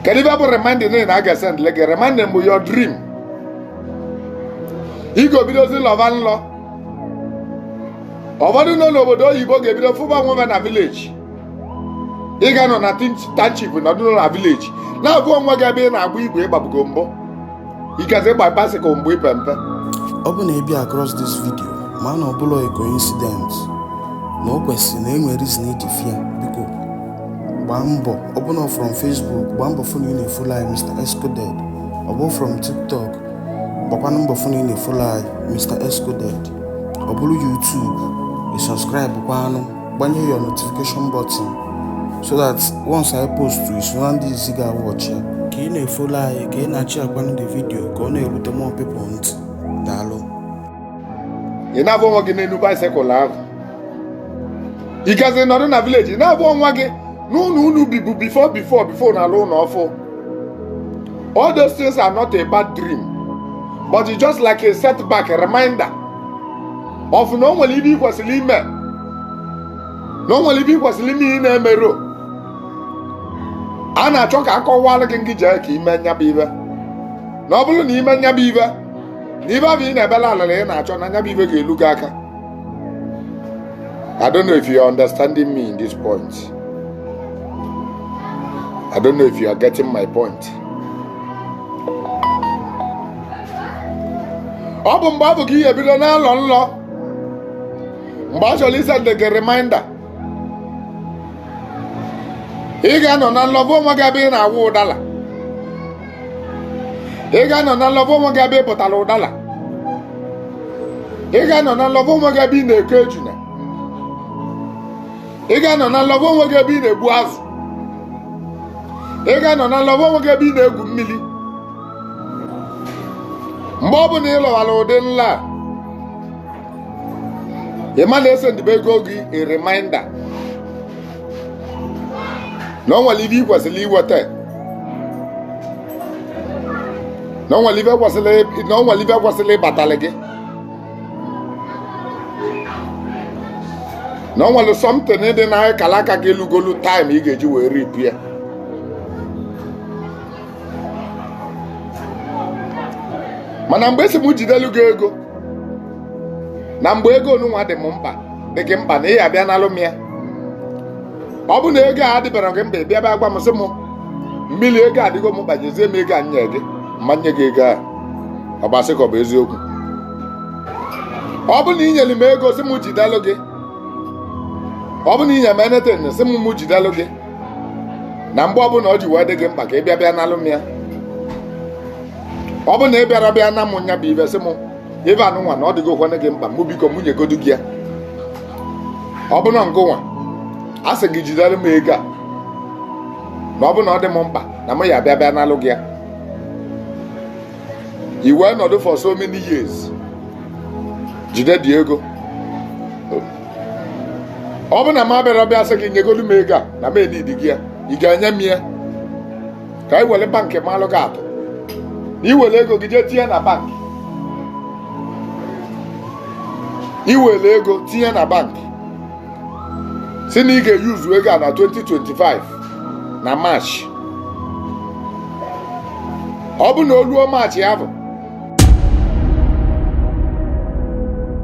kedu ife bụ reminding niile na a ga-esendili gị reminding bụ your dream ị ga-ebidozi lọva nlọ ụfọdụ nọ n'obodo oyibo ga-ebido fụba onwe fa na village ị ga-anọ na township nọdụ na village na-afụ onwe gị ebe ị na-agba igwe ị gbabugo mbụ ikezi ị gba bicycle mgbe ị pe mpe ọ bụ na ị bịa across this video ma na ọ bụrọ a coincidence na o kwesịrị na e nwere reason i ji fụ ya biko gbaa mbọ ọ bụ na from Facebook gbaa mbọ fụ na ị na-efolo anyị Mr Excoded ọ bụ from TikTok gbakwanụ mbọ fụ na ị na-efolo anyị Mr Excoded ọ bụrụ YouTube ị subscribe kwanụ gbanye your notification button so that once I post i so na ndị izizi ga-awọchi ya ka ị na-efolo anyị ka ị na-ashare kwanụ the video ka ọ na-erute more people ntị daalụ ị na-afụ onwe gị n'elu bicycle ahụ ị gazi nọdụ na village ị na-afụ onwe gị n'ụlọ unu bibu before before before na a lụ ụlọ ọfụụ all those things are not a bad dream but it's just like a setback a reminder of na o nwere ife ị kwesịrị ime na o nwere ife ị kwesịrị ime ị na-emerọ a na-achọ ka a kọwalụ gị ngị jee ka i mee nya bụ ife na ọ bụrụ na i mee nya bụ ife na ife afụ ị na-ebelụ alịlị ị na-achọ na nya bụ ife ga-elu gị aka I don't know if you are understanding me in this point. I don't know if you are getting my point. ọ bụ mgbe afụ ka i ji ebido na-alọ nlọ mgbe a chọrọ isendili gị reminder ị ga-anọ na nlọ fụ onwe gị ebe ị na-awọ ụdala ị ga-anọ na nlọ fụ onwe gị ebe ị pụtara ụdala ị ga-anọ na nlọ fụ onwe gị ebe ị na-eke ejuna ị ga-anọ na nlọ fụ onwe gị ebe ị na-egbu azụ ị ga-anọ na nlọ fụ onwe gị ebe ị na-egwu mmiri mgbe ọ bụla ị lọwara ụdị nlọ a ị ma na esendibego gị a reminder na ọ nwere ife i kwesịrị iweta na ọ nwere ife kwesịrị ịbatalị gị na ọ nwere something dị na akala aka gị elugolu time ị ga-eji wee reap ya mana mgbe esi m jidelu gị ego na mgbe ego onunwa dị m mkpa dị gị mkpa na ị ya-abịa nalụ m ya ọ bụ na ego a dịbara gị mkpa ị bịa bịa gwa m sị m mmiri ego adịgo m mkpa nyezie m ego m nye gị m ma nye gị ego ahụ ọ gbasị ka ọ bụ eziokwu ọ bụ na ị nyere m ego sị m jidalụ gị ọ bụ na ị nyere m anything sị m m jidalụ gị na mgbe ọbụla ọ ji wee dị gị mkpa ka ị bịa bịa nalụ m ya ọ bụ na ị bịara bịa na m nya bụ ive sị m ive anụnwa na ọ dịgokwanụ gị mkpa mụ biko mụ nyegodu gị ya ọ bụ na ngụnwa a sị gị jidalụ m ego a na ọ bụ na ọ dị m mkpa na m ya-abịa bịa nalụ gị ya i wee nọdụ for so many years jide the ego ọ bụ na m abịara bịa sị gị nyegodu m ego a na m enidigo ya ị ga-enye m ya ka anyị were bankị malụ gị atụ na i were ego gị jee tinye na bankị i were ego tinye na bankị sị na ị ga-eyuzu ego a na 2025 na maachị ọ bụ na o ruo maachị ya bụ